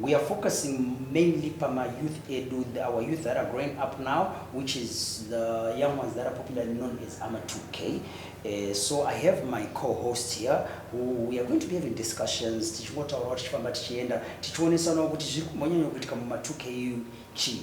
We are focusing mainly pama youth edu, our youth that are growing up now, which is the young ones that are popularly known as ama 2K. Uh, eh, so I have my co-host here who we are going to be having discussions, tichingotaurawo tichifamba tichienda, tichionesanawo kuti zviri kumbonyanya kuitika muma 2K chii.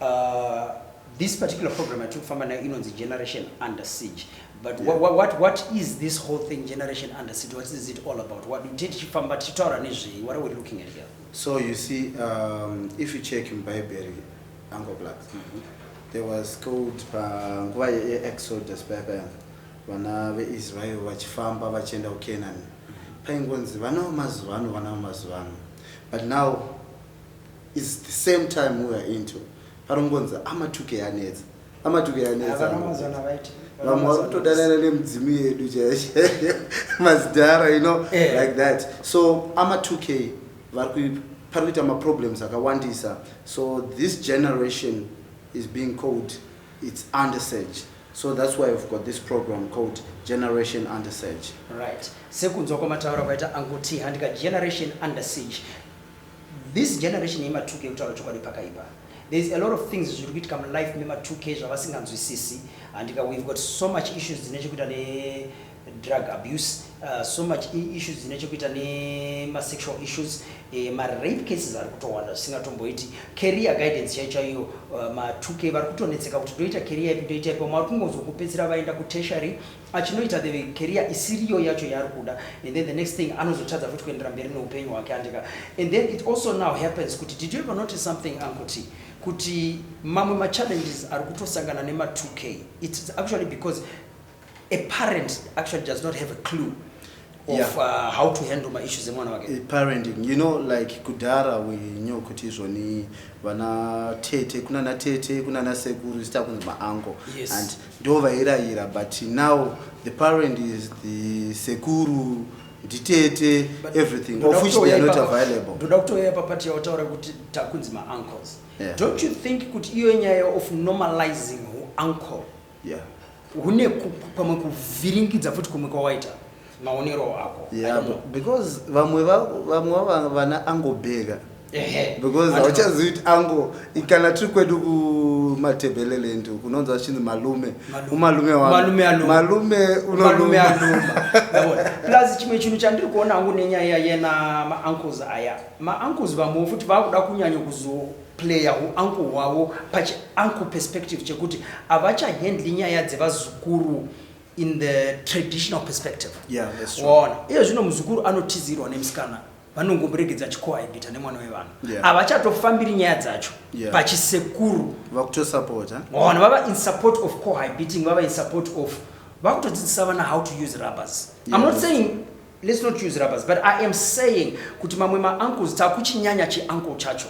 Uh, this particular program yatiri kufamba nayo inonzi generation under siege but yeah. what, what, what is this whole thing generation under siege what is it all about what did tichifamba tichitaura nezvei what are we looking at here so you see um, if you check in bible uncle black mm -hmm. there was called panguva uh, yeexodus paya paya vana veisrael vachifamba vachienda kucanaan mm-hmm. paingonzi vanawo mazuva ano vanawo mazuva ano but now is the same time we are into parongonza amatuke yanetsa amatuke yanetsa vamwe vari kutodanana nemudzimu yedu chaichaiyo mazidhara you know yeah. like that so amatuke vari pari kuita maproblems akawandisa so this generation is being called its under search so that's why we've got this program called generation under search right sekunzwa kwamataura kwaita anguti handika generation under siege This generation yema 2k kutaura chokwadi pakaipa. There is a lot of things zviri kuitika mulife mema 2k zvavasinganzwisisi handika we've got so much issues dzine chekuita ne drug abuse uh, so much issues dzine chekuita nemasexual issues uh, eh, marape cases ari kutowanda zvisingatomboiti career guidance chai chaiyo uh, ma2k vari kutonetseka kuti ndoita career ipi ndoita ipi vamwe vari kungonzwa kupedzisira vaenda kutertiary achinoita the career isiriyo yacho yaari kuda and then the next thing anozotadza futi kuendera mberi neupenyu hwake handika and then it also now happens kuti did you ever notice something ankoti kuti mamwe machallenges ari kutosangana nema 2k its actually because a parent actually does not have a clue of yeah. uh, how to handle my issues emwana wake eh, parenting you know like kudhara we knew kuti izvoni vana tete kunana tete kunana sekuru zita kunzi maango yes. and ndo vairayira but now the parent is the sekuru nditete everything of which they are not available ndoda kutoyaya papati yautaura kuti takunzi maancles yeah. don't you think kuti iyo nyaya of normalizing uncle yeah. une pamwe kuvhiringidza futi kumwe kwawaita maonero ako yeah, because vamwe vamwe vana angobheka because hauchazivi kuti ango kana tiri kwedu kumatebheleland kunonzi vachinzi malume umalume wamalume unomalume aluma plus chimwe chinhu chandiri kuona hangu nenyaya yena maancles aya maancles vamwewo futi vakuda kunyanya kuzo player huuncle hwavo pachiuncle perspective chekuti havachahandli nyaya dzevazukuru in the traditional perspective yeah, waona iye zvino muzukuru anotizirwa nemusikana vanongomuregedza achikohaibita nemwana wevanhu yeah. havachatofambiri nyaya dzacho yeah. pachisekuru vakutosapota waona vava in support of cohabiting vava in support of vakutodzidzisa vana how to use rubbers yeah, i'm not saying Let's not use rubbers but I am saying kuti mamwe ma uncles takuchinyanya chi uncle chacho.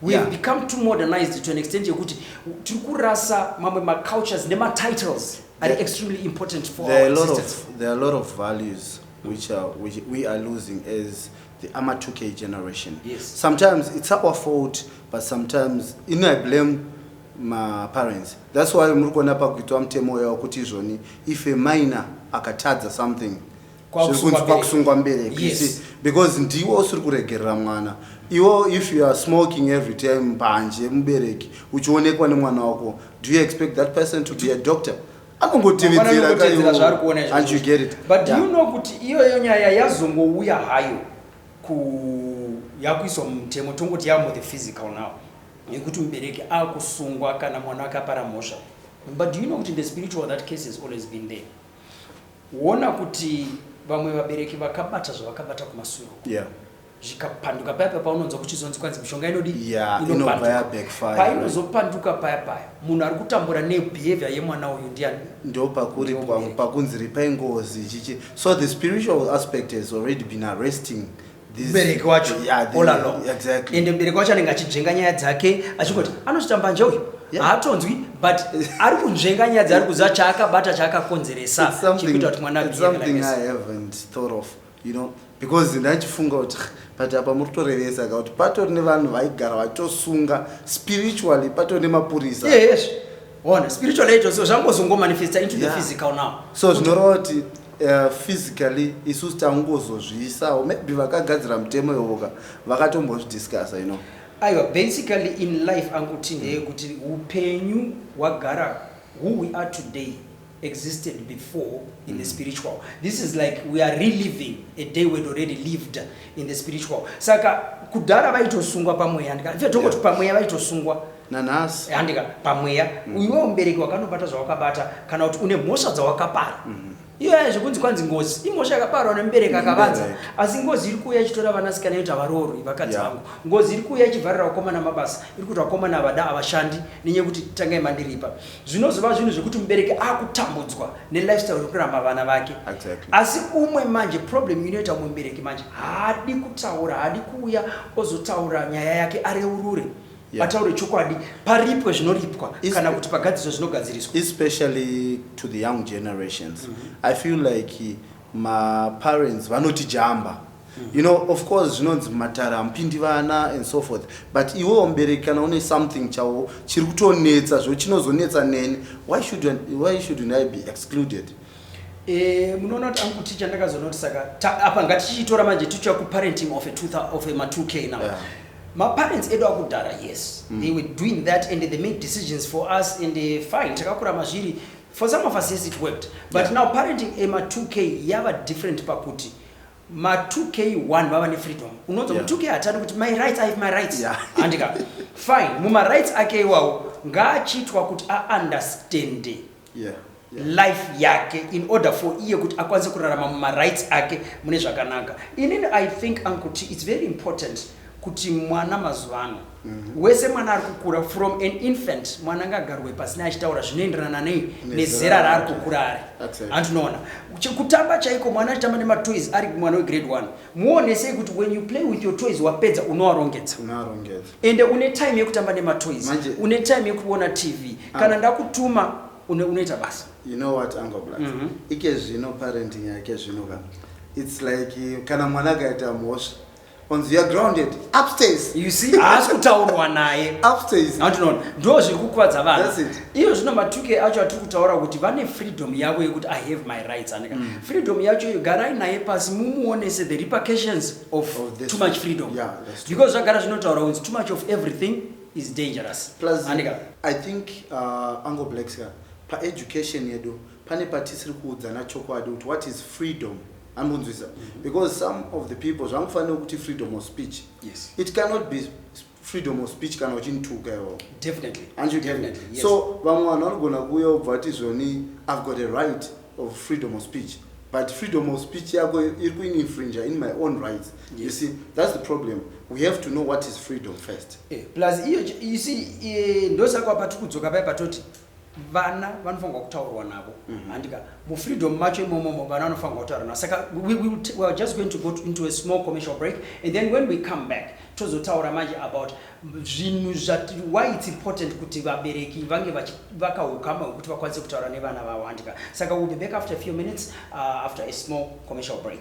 We have yeah. become too modernized to an extent yekuti tiri kurasa mamwe ma cultures nema titles are yeah. extremely important for there our existence. Of, there are a lot of values which are which we are losing as the Amatuke generation. Yes. Sometimes it's our fault but sometimes you know I blame my parents. That's why muri kuona pakuitwa mutemo yawo kuti izvoni if a minor akatadza something zvekunzi kwakusungwa mbereki yes. because ndiwo usiri kuregerera mwana iwo if you are smoking every time mbanje mubereki uchionekwa nemwana wako do you expect that person to be a doctor anongotevedzera zvaari kuona but do you know kuti iyoyo nyaya yazongouya hayo yakuiswa mumutemo tongoti yamo the physical now yekuti mubereki akusungwa kana mwana wake apara mhosva but do you know kuti the spiritual that case has always been there Wona kuti vamwe vabereki vakabata zvavakabata kumasure uko. Yeah. Zvikapanduka paya paya paunonzwa kuchizonzi kwanzi mishonga inodi Yeah, inobva inopanduka. yabackfire. Painozopanduka paya paya munhu ari kutambura nebehavior yemwana uyu ndiani? ndo pakuri Ndiwo pa- mubereki. pakunzi ripai ngozi chichi so the spiritual aspect has already been arresting mubereki wacho all along exactly. ende mubereki wacho anenge achidzenga nyaya dzake achingoti anochita mbanje uyu haatonzwi but ari kunzvenga nyaya dzaari kuziva chaakabata chaakakonzeresa chikuita kuti mwana because ndachifunga kuti but apa muri kutorevesa ka kuti patori nevanhu vaigara vachitosunga spiritually patori nemapurisa yes. Bona spiritual age so zvangozongo manifesta into yeah. the physical now. So zvinoreva kuti uh, physically isusu tangozozviisawo maybe vakagadzira mutemo iwoka vakatombozvidiscussa you know. Aiwa basically in life anguti ndeyekuti upenyu hwagara who we are today existed before in the spiritual this is like we are reliving a day we'd already lived in the spiritual saka kudhara vaitosungwa pamweya handika ife tongoti Yeah. pamweya vaitosungwa nanhasi handika pamweya iwewo mubereki wakanobata zvawakabata kana kuti une mhosva dzawakapara iyoya zvekunzi kwanzi ngozi imhosva yakaparwa nemubereki akavanza Nemubereki. asi ngozi iri kuuya ichitora vanasikana yoti havaroorwi vakadzi Yeah. vangu ngozi iri kuuya ichivharira vakomana mabasa iri kuti vakomana havada havashandi nenyaya yekuti tangai mandiripa zvinozova zvinhu zvekuti mubereki akutambudzwa nelifestyle yekuramba vana vake exactly. asi umwe manje problem inoita umwe mubereki manje haadi kutaura haadi kuuya ozotaura nyaya yake areurure yeah. ataure chokwadi paripwe zvinoripwa kana kuti pagadziso zvinogadziriswa especially to the young generations mm -hmm. i feel like Ma parents vanoti jamba you know of course zvinonzi mumatare hamupindi vana and so forth but iwewo mubereki kana une something chawo chiri kutonetsa zvo chinozonetsa neni why should, why shouldn't i be excluded Eh, munoona kuti ankuti chandakazonoti saka apa ngatichitora manje tichiuya kuparenting of of ma 2 k now yeah. maparents edu akudhara yes mm. they were doing that and they made decisions for us and eh, fine takakurama zviri For some of us yes it worked but yeah. now parenting ema 2k yava different pakuti ma 2k 1 vava nefreedom unonzwa yeah. 2k hatadi kuti my rights ive my rights yeah. andika fine mumarights ake iwawo ngaachiitwa kuti aunderstande yeah. Yeah. life yake in order for iye kuti akwanise kurarama mumarights ake mune zvakanaka inini i think ankuti its very important kuti mwana mazuva ano Mhm. wese mwana ari kukura from an infant mwana ngagarwe pasina achitaura zvinoenderana nei nezera raari kukura ari andinoona kutamba chaiko mwana achitamba nematoys ari mwana wegrade one muonesei kuti when you play with your toys wapedza unoarongedza ende une time yekutamba nematoys une time yekuona tv ah. kana ndakutuma unoita basa you know what uncle black mm -hmm. ike zvino parenting yake zvino ka it's like kana mwana akaita mhosva onzi youare grounded upstairs you see haasi kutaurwa naye upstairs andinoona ndo zviri kukuvadza vanhu iyo zvino matuke acho atiri kutaura kuti vane freedom yavo yekuti i have my rights anika mm. freedom yacho iyo garai naye pasi mumuonese the repercussions of oh, too much freedom yeah, because zvagara zvinotaura kunzi too much of everything is dangerous plus anika i think uh, ango blacks ka paeducation yedu pane patisiri kuudzana chokwadi kuti what is freedom anonzwisa mm -hmm. because some of the people zvangofanira kuti freedom of speech yes. it cannot be freedom of speech kana uchinituka iwo so vamwe vanhu vanogona kuuya ubva vati zvoni i've got a right of freedom of speech but freedom of speech yako iri kuininfringe in my own rights yes. you see that's the problem we have to know what is freedom first eh, plus iyo you see eh, ndosaka patiri kudzoka paye patoti vana vanofanirwa kutaurwa navo mm-hmm. handika mufreedom macho imomomo vana vanofanirwa kutaurwa navo saka we, we, we are just going to go to, into a small commercial break and then when we come back tozotaura manje about zvinhu zvati why it's important kuti vabereki vange vakaukama hwekuti vakwanise kutaura nevana vavo handika saka we'll be back after a few minutes uh, after a small commercial break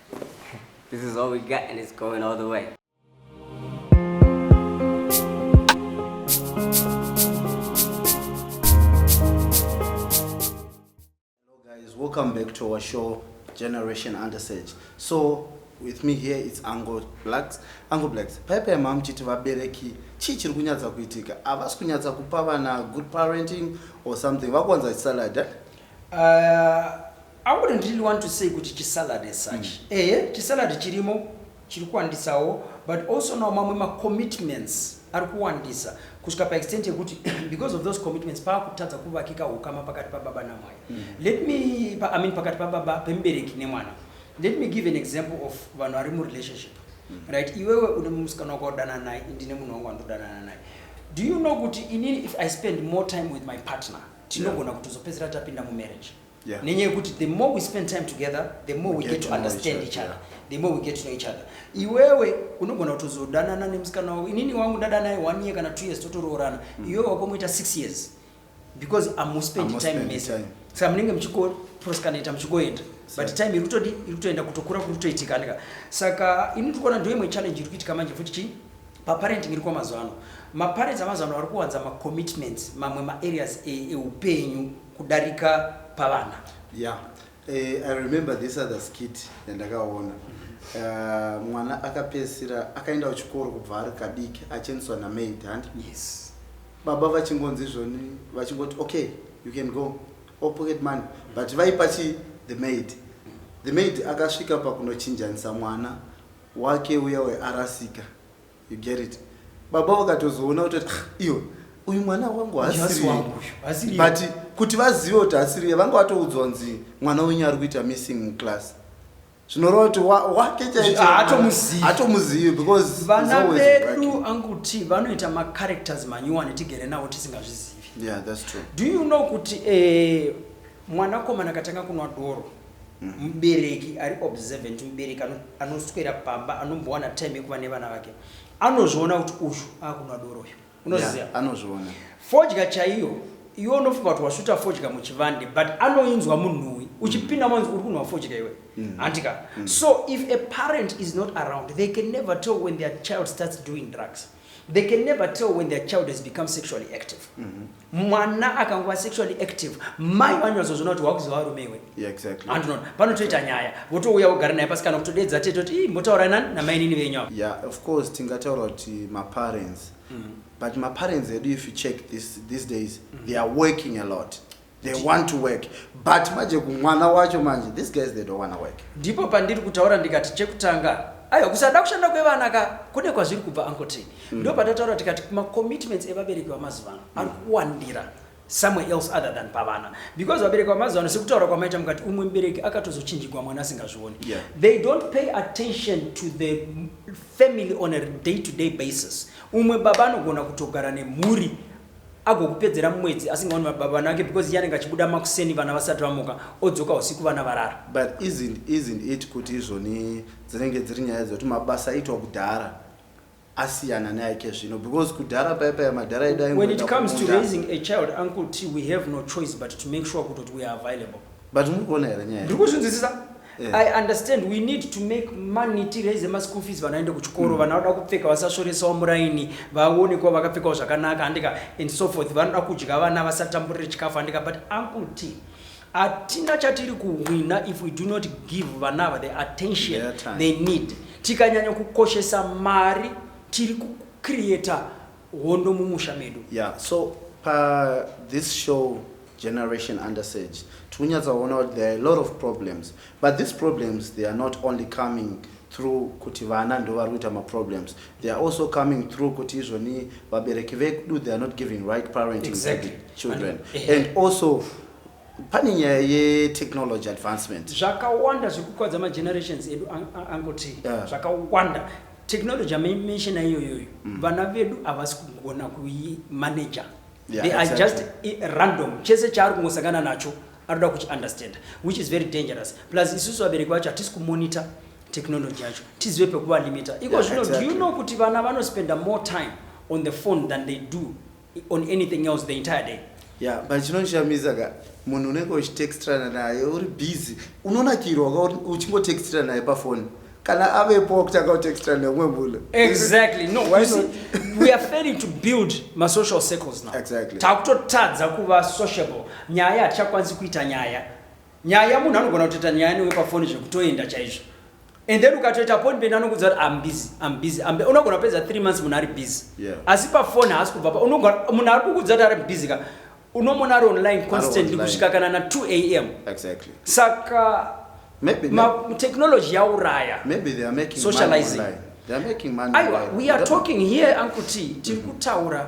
This is all we got and it's going all the way. Hello guys, welcome back to our show Generation Under Sage. So with me here it's Ango Blacks. Ango Blacks, paipai mamuchiti vabereki chii chiri kunyatsa kuitika? Havasi kunyatsa kupa vana good parenting or something? Vakuwanza salad eh? Uh, I wouldn't really want to say kuti chisalad as such mm. ehe chisalad chirimo chiri kuwandisawo but also now mamwe macommitments ari kuwandisa kusvika paextent yekuti because of those commitments paakutadza kuvakika ukama pakati pababa namwai mm. let me pa, I mean, pakati pababa pemubereki nemwana let me give an example of vanhu vari murelationship mm. right iwewe une musikana wako wadanana naye ndine munhu wangu wandodanana naye do you know kuti inini if i spend more time with my partner tinogona yeah. kutozopedzera tapinda mumarriage yeah. nenyaya yekuti the more we spend time together the more we, we get, get to understand each other the more we get to know each other iwewe unogona kutozodanana nemusikana wavo inini wangu ndadana ye one year kana two years totoroorana mm. iwewe wakomoita six years because amuspend time mese saka munenge muchikoproskanaita muchikoenda but time iri kutodi iri kutoenda kutokura kuri kutoitikanika saka ini tiri kuona ndoimwe challenge iri kuitika manje futi chii paparenting iri kwamazuva ano maparents amazuva ano ari kuwanza macommitments mamwe maareas e, eupenyu e kudarika pavana. Yeah. Eh, I remember this other skit yandakaona uh, mwana akapedzisira akaenda kuchikoro kubva ari kadiki achiendeswa namaid handi yes. baba vachingonzi izvoni vachingoti okay you can go or pocket money but vaipa chi the maid the maid akasvika pakunochinjanisa mwana wake uya wearasika You get it? Baba vakatozoona kuti ah iyo uyu mwana wangu hasiri but kuti vazive kuti hasiri vanga vatoudzwa kunzi mwana wenyu ari kuita missing muclass zvinoreva kuti wake chaitomuzivi because vana vedu anguti vanoita macharacters manyuwani tigere navo tisingazvizivi yeah, that's true. do you know kuti eh, mwanakomana katanga kunwa doro mubereki ari observant mubereki anoswera pamba anombowana time yekuva nevana vake anozviona kuti uyu akunwa doro uyu unoziva anozviona fodya chaiyo iwe unofunga kuti wasvuta fodya muchivande but anoinzwa munhuwi uchipinda manzi uri kunwa fodya iwe mm. handika mm. so if a parent is not around they can never tell when their child starts doing drugs They can never tell when their child has become sexually active. Mm-hmm. Mwana akangova sexually active, mai vanyazozvona kuti wakuzova varume iwe. Yeah, exactly. And not. Panotoita nyaya. Votouya vogara naye pasi kana kutodeedza tete kuti motaura nani namainini venyu ava. Yeah, of course tingataura kuti maparents. Mm-hmm. But maparents edu if you check this, these days, mm-hmm. they are working a lot. they want to work but manje kumwana wacho manje these guys they don't want to work ndipo pandiri kutaura ndikati chekutanga aiwa kusada kushanda kwevana ka kune kwazviri kubva ankotei mm. ndo patataura tikati macommitments evabereki vamazuva ano mm. ari kuwandira somewhere else other than pavana because vabereki vamazuva ano sekutaura kwamaita mukati umwe mubereki akatozochinjigwa mwana asingazvioni yeah. they don't pay attention to the family on a day to day basis umwe baba anogona kutogara nemhuri agokupedzera mumwedzi asingaoni baba vana vake because iye anenge achibuda makuseni vana vasati vamuka odzoka usiku vana varara but isn't, isn't it kuti izvoni dzinenge dziri nyaya dzekuti mabasa aitwa kudhara asiyana neaikezvino because kudhara paye paye madhara edu when it comes to raising a child uncle t we have no choice but to make sure kutoti we are available but muri kuona here nyaya ndiri kuzvinzwisisa Yeah. I understand we need to make money tiraise maschool fees vana ende kuchikoro mm. vanoda kupfeka vasasvoresawo muraini vaone kuva vakapfekawo zvakanaka andika and so forth vanoda kudya vana vasatamburire chikafu andika but uncle t hatina chatiri kuhwina if we do not give vana ava the attention they need tikanyanya kukoshesa mari tiri kucreata hondo mumusha medu yeah so pa this show generation under sage tikunyatsaona kuti there are a lot of problems but these problems they are not only coming through kuti vana ndo vari kuita maproblems they are also coming through kuti izvoni vabereki vedu they are not giving right parenting exactly. children and, eh, eh. and also pane nyaya yetechnology advancement zvakawanda zviri kukwadza magenerations edu angoti yeah. zvakawanda technology amaimenshona iyoyoyo mm. vana vedu havasi kugona kuimanaja yeah, they exactly. are just random chese chaari kungosangana nacho anoda kuchiunderstand which is very dangerous plus isusu vabereki vacho hatisi kumonitor technology yacho tizive pekuvalimita iko zvino yeah, exactly. do you know kuti vana vanospenda more time on the phone than they do on anything else the entire day ya but chinondishamisa ka munhu unenge uchitextrana naye uri busy unonakirwa ka uchingotextrana naye pafoni kana avepo wakutanga kutextrana neumwe munhu exactly no Why see, we are failing to build masocial circles now exactly. takutotadza kuva sociable nyaya hatichakwanisi kuita nyaya nyaya munhu anogona kutoita nyaya newe pafoni zvekutoenda chaizvo and then ukatoita appointment anokudza kuti am busy am busy am busy unogona kupedza 3 months munhu ari busy Yeah. asi pafoni haasi kubva pa unogona munhu ari kukudza kuti ari busy ka unomona ari online constantly online. kusvika kana na 2 am exactly saka maybe ma, technology yauraya maybe they are making Socializing. money online. they are making money aiwa online. we are That- talking here uncle t tiri kutaura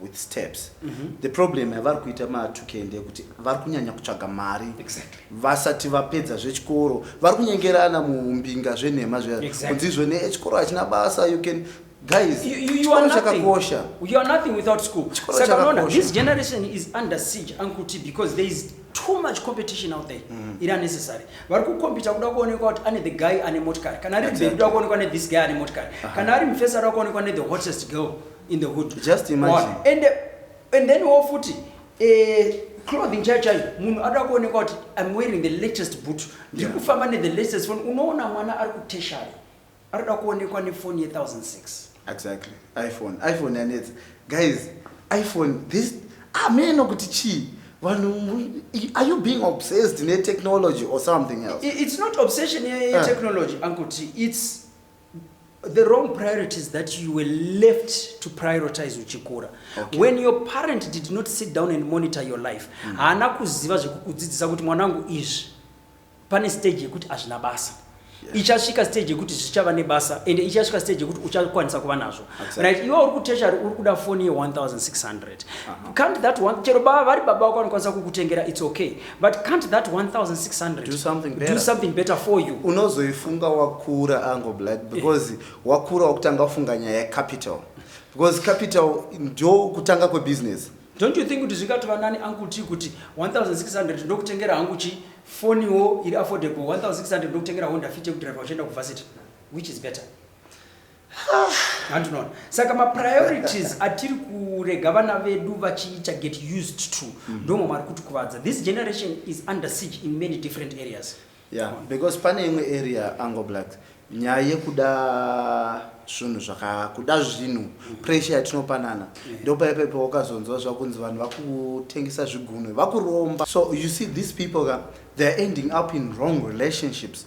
with steps mm -hmm. the problem yavari kuita matukee ndeyekuti vari kunyanya kutsvaga mari exactly. vasati vapedza zvechikoro vari kunyengerana mumbinga zvenhema zviya exactly. kunzizvo ne chikoro hachina basa you can guys you, you, you are chakakosha you are nothing without school saka unaona this generation is under siege uncle t because there is too much competition out there mm. iri unnecessary vari kukompita kuda kuonekwa kuti ane the guy ane motikari kana ari exactly. kuda kuonekwa ne this guy ane motikari uh -huh. kana ari mufesa ari kuonekwa ne the hottest girl in the hood just imagine and and then wo futi eh clothing chai chai munhu ada kuonekwa kuti i'm wearing the latest boot ndiri yeah. kufamba ne the latest phone unoona mwana ari kuteshari ari kuda kuonekwa ne phone ye 1006 exactly iphone iphone yanetsa guys iphone this ameno ah, kuti chii vanhu are you being obsessed ne technology or something else it's not obsession ye, ye uh. technology ankuti it's the wrong priorities that you were left to prioritize uchikura okay. when your parent did not sit down and monitor your life mm. haana mm. kuziva zvekukudzidzisa kuti mwanangu izvi pane stage yekuti hazvina basa yeah. ichasvika stage yekuti zvichava nebasa ende ichasvika stage yekuti uchakwanisa kuva nazvo exactly. right iwe uri kuteshari uri kuda foni ye1600 uh -huh. can't that one chero baba vari baba wako vanokwanisa kukutengera its okay but can't that 1600 do something better, do something better for you unozoifunga wakura ango black eh. because wakura wakutanga kufunga nyaya yecapital because capital ndo kutanga kwebusiness don't you think kuti zvingatova nani angu ti kuti 1600 ndokutengera hangu chi foniwo iri affordable 1600 ndokutengera honda fit yekudriva uchienda kuvasity which is better handinoona saka mapriorities atiri kurega vana vedu vachiita get used to mm. ndomwe mari kuti kuvadza this generation is under siege in many different areas yeah because pane imwe area ango black nyaya yekuda zvinhu zvakakuda zvinhu mm. pressure yatinopanana yeah. ndopaipepe wakazonzwa zvakunzi vanhu vakutengesa zvigunwe vakuromba so you see these people ka theyare ending up in wrong relationships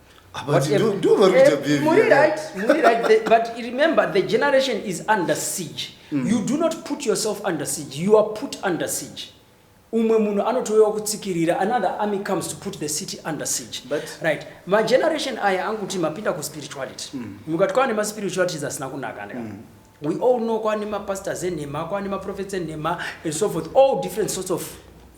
umwe munhu anotouyawo kutsikirira another army comes to put the city under siege But, right mageneration aya anguti mapinda kuspirituality mm. mukati kwaane maspiritualities asina kunaka ndika mm. We all know kwani ma pastors enhema kwani ma prophets enhema and so forth all different sorts of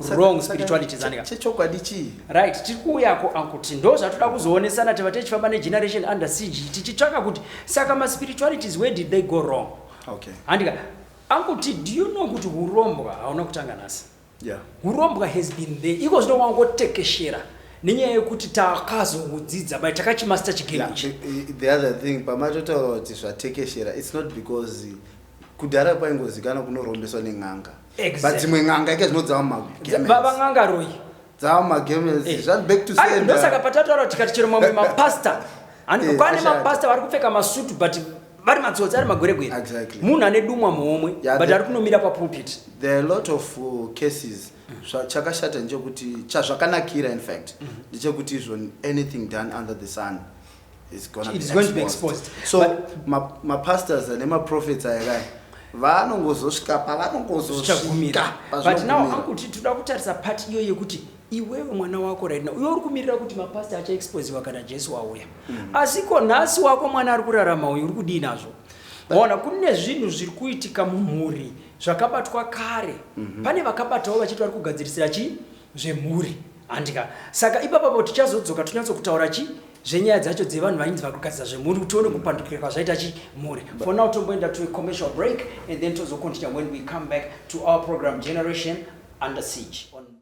wrong spirituality zanika chechokwadi chii right tiri kuuyako ankuti ndo zvatoda kuzoonesana teva tichifamba ne generation under siege tichitsvaka kuti saka ma spiritualities where did they go wrong okay handika ankuti do you know kuti urombwa hauna kutanga nhasi Yeah. Hurombwa has been there. Iko zvino wangotekeshera nenyaya yekuti takazodzidza bai takachimaster chigame ichi. Yeah, eh, eh, the other thing pamatotaura kuti zvatekeshera it's not because kudhara kwaingozikana kunorombeswa nen'anga Exactly. but dzimwe n'anga ika dzinodzava magemens Baba n'anga royi. dzava magemens Eh. zvati back to Ari, ndosaka sender patataura tikati chero mamwe mapasta Ani- Eh, kwane ashanda. mapasta vari kupfeka masutu but vari matsotsi ari magweregwere exactly. munhu ane dumwa muhomwe yeah, but ari kunomira papulpit there are a lot of uh, cases mm. chakashata ndechokuti chazvakanakira in fact mm. ndechekuti izvo anything done under the sun is gonna It be, is going to be exposed so mapastors ma ane maprofets aya kaya vanongozosvika pavanongozosvika but now akuti toda kutarisa part iyo yekuti iwewe mwana wako right now uyo uri kumirira kuti mapastor achaexposiwa kana jesu wauya mm. asi ko nhasi wako mwana ari kurarama uyu uri kudii nazvo ona kune zvinhu zviri kuitika mumhuri zvakabatwa kare mm -hmm. pane vakabatawo vachiti vari kugadzirisira chii zvemhuri handika saka ipapapo tichazodzoka tonyatsokutaura chii zvenyaya dzacho dzevanhu vainzi vari kugadzira zvemhuri kuti tione kupandukira kwazvaita chi mhuri for now tomboenda to a commercial break and then tozocontinue when we come back to our program generation under siege on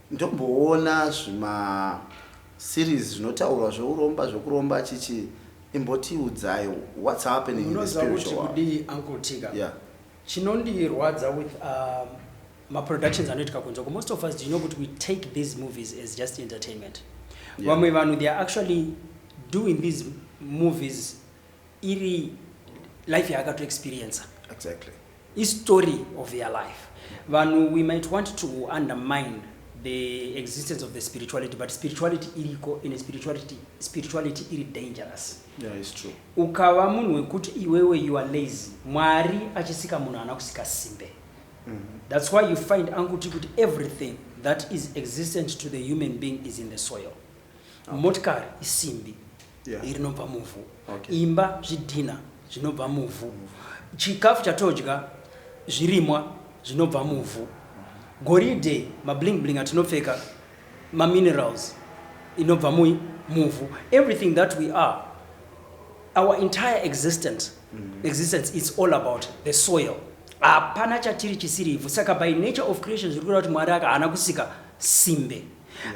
Ndomboona zvima series zvinotaurwa zveuromba zvekuromba achichi imbotiudzai what's happening in the Munoziva kuti spiritual world. kudii Uncle Tika? Yeah. Chinondirwadza with um, maproductions anoitika kunze uko, most of us do you know kuti we take these movies as just entertainment. Yeah. Vamwe vanhu they are actually doing these movies iri life yaakato experiencer exactly istory of their life vanhu we might want to undermine the existence of the spirituality but spirituality iriko in spirituality spirituality iri dangerous yeah, it's true ukava munhu wekuti iwewe you are lazy mwari achisika munhu ana kusika simbe mm -hmm. that's why you find anguti kuti everything that is existent to the human being is in the soil okay. motikari isimbi yeah. rinobva muvhu okay. imba zvidhina zvinobva muvhu chikafu chatodya zvirimwa zvinobva muvhu goridhe mabling bling atinopfeka maminerals inobva mui muvhu everything that we are our entire existence mm -hmm. existence is all about the soil hapana chatiri chisiri ivhu saka by nature of creation zviri kureva kuti mwari aka haana kusika simbe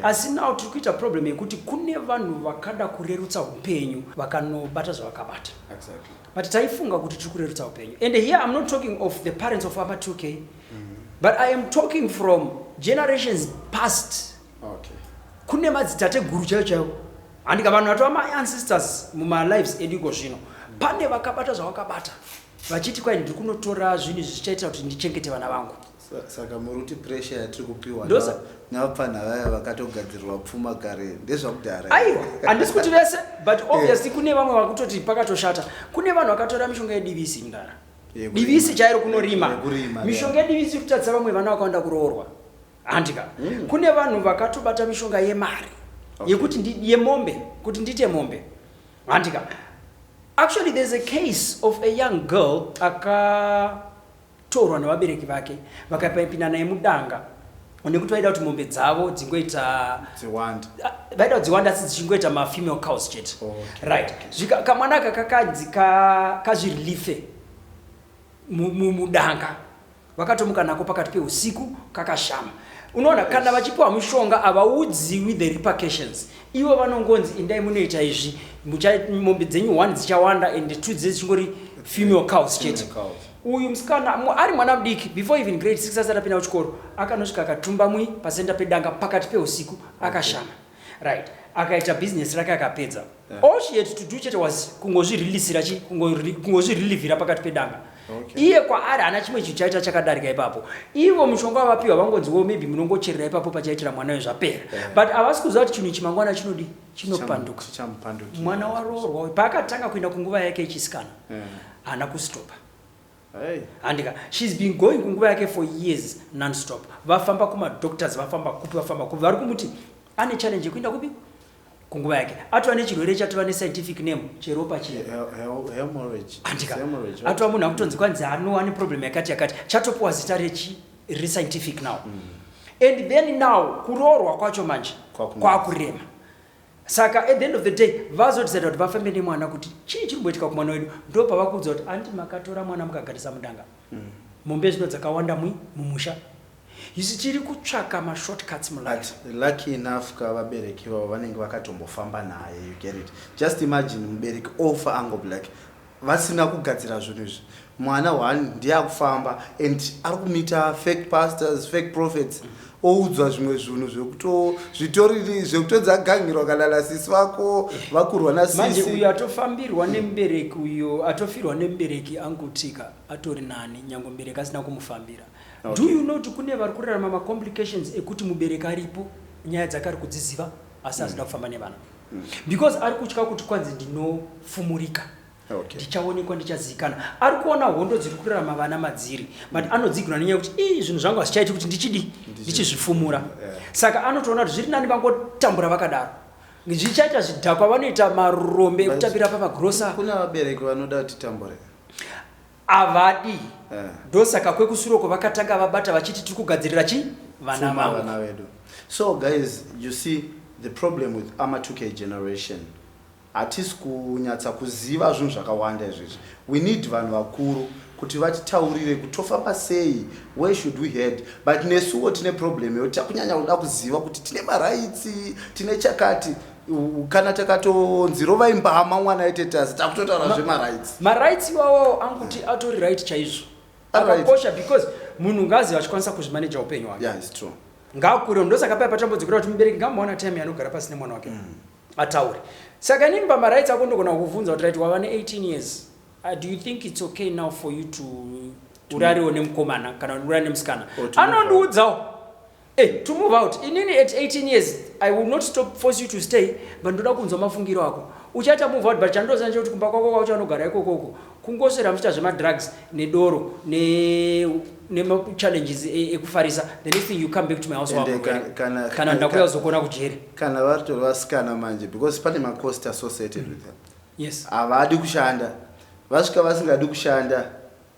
Asi now tiri kuita problem yekuti kune vanhu vakada kurerutsa upenyu vakanobata zvavakabata. Exactly. But taifunga kuti tiri kurerutsa upenyu. And here I'm not talking of the parents of Apa 2K. Mm -hmm. But I am talking from generations past. Okay. Kune madzitateguru chaiyo chaiyo. Handika vanhu vatova my ancestors muma lives edu iko zvino. Pane vakabata zvavakabata. Vachiti kwai ndiri kunotora zvinhu zvichaitira kuti ndichengete vana vangu. Saka muruti pressure yatiri kupiwa navapfanha vaya vakatogadzirirwa pfuma kare ndezvakudhara. Aiwa, handisi kuti vese but eh. obviously kune vamwe vakutoti pakatoshata. Kune vanhu vakatora mishonga yeDVC indara. Divisi chairo kunorima. Mishonga yedivisi kutadza vamwe vana vakawanda kuroorwa. Handika. Mm. Kune vanhu vakatobata mishonga yemari okay. yekuti ndi yemombe kuti ndite mombe. Handika. Actually there's a case of a young girl aka torwa nevabereki vake vakaipinda naye mudanga nekuti vaida kuti mombe dzavo dzingoita dziwanda ah, vaida kuti dziwanda asi dzichingoita mafemale cows chete oh, okay. right zvika kamwana aka kakanzi kazvirilife mudanga vakatomuka nako pakati peusiku kakashama unoona kana vachipiwa mushonga havaudziwi the repercussions ivo vanongonzi indai munoita izvi mombe dzenyu one dzichawanda and two dzee dzichingori female cows chete Uyu msikana ari mwana mudiki before even grade 6 asati apinda kuchikoro akanosvika akatumba mwi pasenda pedanga pakati peusiku akashama right akaita business rake akapedza yeah. all she had to do chete was kungozviriliisira chi kungozvirilivhira pakati pedanga okay. iye kwaari haana chimwe chinhu chaita chakadarika ipapo ivo mushonga wavapiwa vangonziwo maybe munongocherera ipapo pachaitira mwana yo zvapera yeah. but havasi kuziva kuti chinhu ichi mangwana chinodii chinopanduka chichamupandukira mwana waroorwa uyu paakatanga kuenda kunguva yake yechisikana Eh. haana kustopa Hey. handika shes been going kunguva yake for years nonstop vafamba kumadoctors vafamba kupi vafamba kupi vari kumuti ane challenge yekuenda kupi kunguva yake atova nechirwere chatova nescientific name cheropa chiya He- he- hemorrhage. andika Hemorrhage, right? atova munhu akutonzi kwanzi ano ane problem yakati yakati chatopuwa zita rechi riri scientific now mm. and then now kuroorwa kwacho manje kwakurema saka at the end of the day vazodecida kuti vafambe nemwana kuti chii chiri kumboitika kumwana wedu ndo pavakuudza kuti andi makatora mwana mukagarisa mudanga mm. mombe mm. zvino dzakawanda mwi mumusha isi tiri kutsvaka mashortcuts mulife lucky enough ka vabereki vavo vanenge vakatombofamba naye you get it just imagine mubereki ofa ango black vasina kugadzira zvinhu izvi mwana one ndiye akufamba and ari kumita fake pastors fake prophets oudzwa zvimwe zvinhu zvekutozvitoriri zvekutodza agangirwa kana nasisi vako vakurwa nasisi uyo atofambirwa nemubereki uyo atofirwa nemubereki angutika atori nani nyange mubereki asina kumufambira okay. do you know kuti kune vari kurarama macomplications ekuti mubereki aripo nyaya dzakari kudziziva asi asida mm. kufamba nevana mm. because ari kutya kuti kwanzi ndinofumurika ndichaonekwa ndichaziikana ari kuona hondo dziri kurarama vana madziri but mm. anodzigona nenyaya yekuti ii zvinhu zvangu hazvichaiti kuti ndichidi ndichizvifumura saka anotoona kuti zviri nani vangotambura vakadaro zvichaita zvidhakwa vanoita marombe ekutambira pamagrosa kuna vabereki vanoda kuti tambure avadi Eh. ndosaka kwekusuroko vakatanga vabata vachiti tiri kugadzirira chi vana Pfuma vavo vana vedu so guys you see the problem with ama 2k generation hatisi kunyatsa kuziva zvinhu zvakawanda izvezvi we need vanhu vakuru kuti vatitaurire kuti tofamba sei where should we head but nesuwo tine problem yekuti takunyanya kuda kuziva kuti tine maraitsi tine chakati kana takatonzi rovai mbama mwana aitetazi takutotaura zvemarights marights iwawawo anguti atori right chaizvo akakosha because munhu ngazi vachikwanisa kuzvimaneja upenyu hwake yeah, ngakure ndosaka paya patambodzikira kuti mubereki ngambowana time yanogara pasi nemwana wake mm. ataure saka inini pamarights ako ndogona kukubvunza kuti raiti wava ne18 years uh, do you think its okay now for you to urariwo nemukomana kana urari nemusikana anondiudzawo Hey, to move out inini at 18 years i will not stop force you to stay but ndoda kunzwa mafungiro ako uchaita move out but chandoziva ndechekuti kumba kwako kwauchanogara ikoko uko kungoswera muchiita zvemadrugs nedoro nemachallenges ne, ne ekufarisa the next thing you come back to my house wako kana ndakuya uzokuona kujere kana varitori vasikana manje because pane macost associated with them yes havadi kushanda vasvika vasingadi kushanda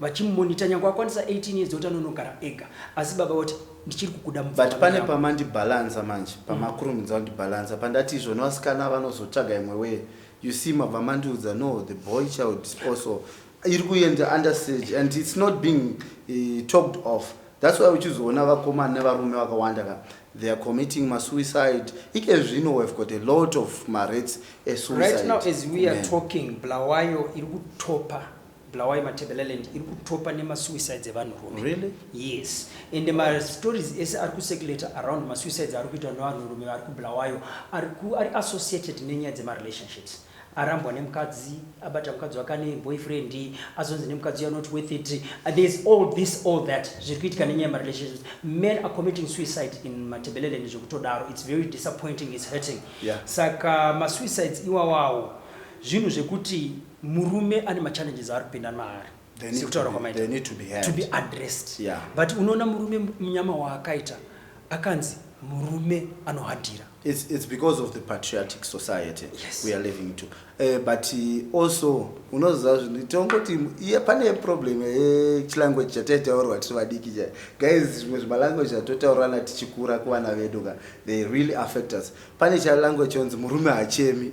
vachimumonitor nyangwe akwanisa 18 years oti anonogara ega asi baba voti ndichiri kukuda mupfungwa but pane yangu." pamandibhalansa manje pamakurumidza kundibhalansa pandati izvo nevasikana vanozotsvaga imwe wee you see mabva mandiudza no the boy child is also iri kuenda under stage and it's not being eh, talked off that's why uchizoona vakomana nevarume vakawanda ka they are committing masuicide ike zvino we have got a lot of marates right now as we are esuicide talking bulawayo iri kutopa Bulawayo Matabeleland iri kutopa nemasuicides evanhurume. Really? Yes. Ende mastories ese ari kucirculator around masuicides ari kuitwa nevanhurume vari kuBulawayo ari ari associated nenyaya dzemarelationships arambwa nemukadzi abata mukadzi wake ane boyfriend azonzi nemukadzi you're not worth it uh, there's all this all that zviri kuitika nenyaya yemarelationships men are committing suicide in matebeleland zvekutodaro it's very disappointing it's hurting yeah. saka masuicides iwawawo zvinhu zvekuti murume ane machallenges aari kupinda maari sekutaura kwamaita to be addressed yeah. but unoona murume munyama waakaita akanzi murume anohadhira it's, it's because of the patriotic society yes. we are living to uh, but uh, also unoziva zvinhu tongoti iye pane problem yechilanguage eh, chataitaurwa tiri vadiki cha guys zvimwe zvimalanguage atotaurana tichikura kuvana vedu ka they really affect us pane chalanguage chonzi murume hachemi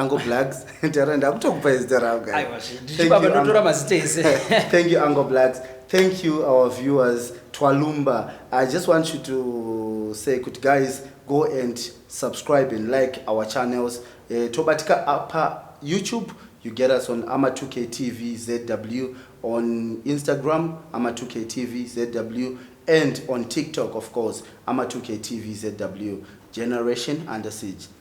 Uncle Blacks, Tara ndakutokupa izita rao guys. Aiwa zve, ndichi baba ndotora mazita ese. Thank you Uncle Blacks. Thank you our viewers Twalumba. I just want you to say kuti guys go and subscribe and like our channels. Eh, tobatika apa YouTube you get us on ama 2k tv zw on instagram ama 2k tv zw and on tiktok of course ama 2k tv zw generation under siege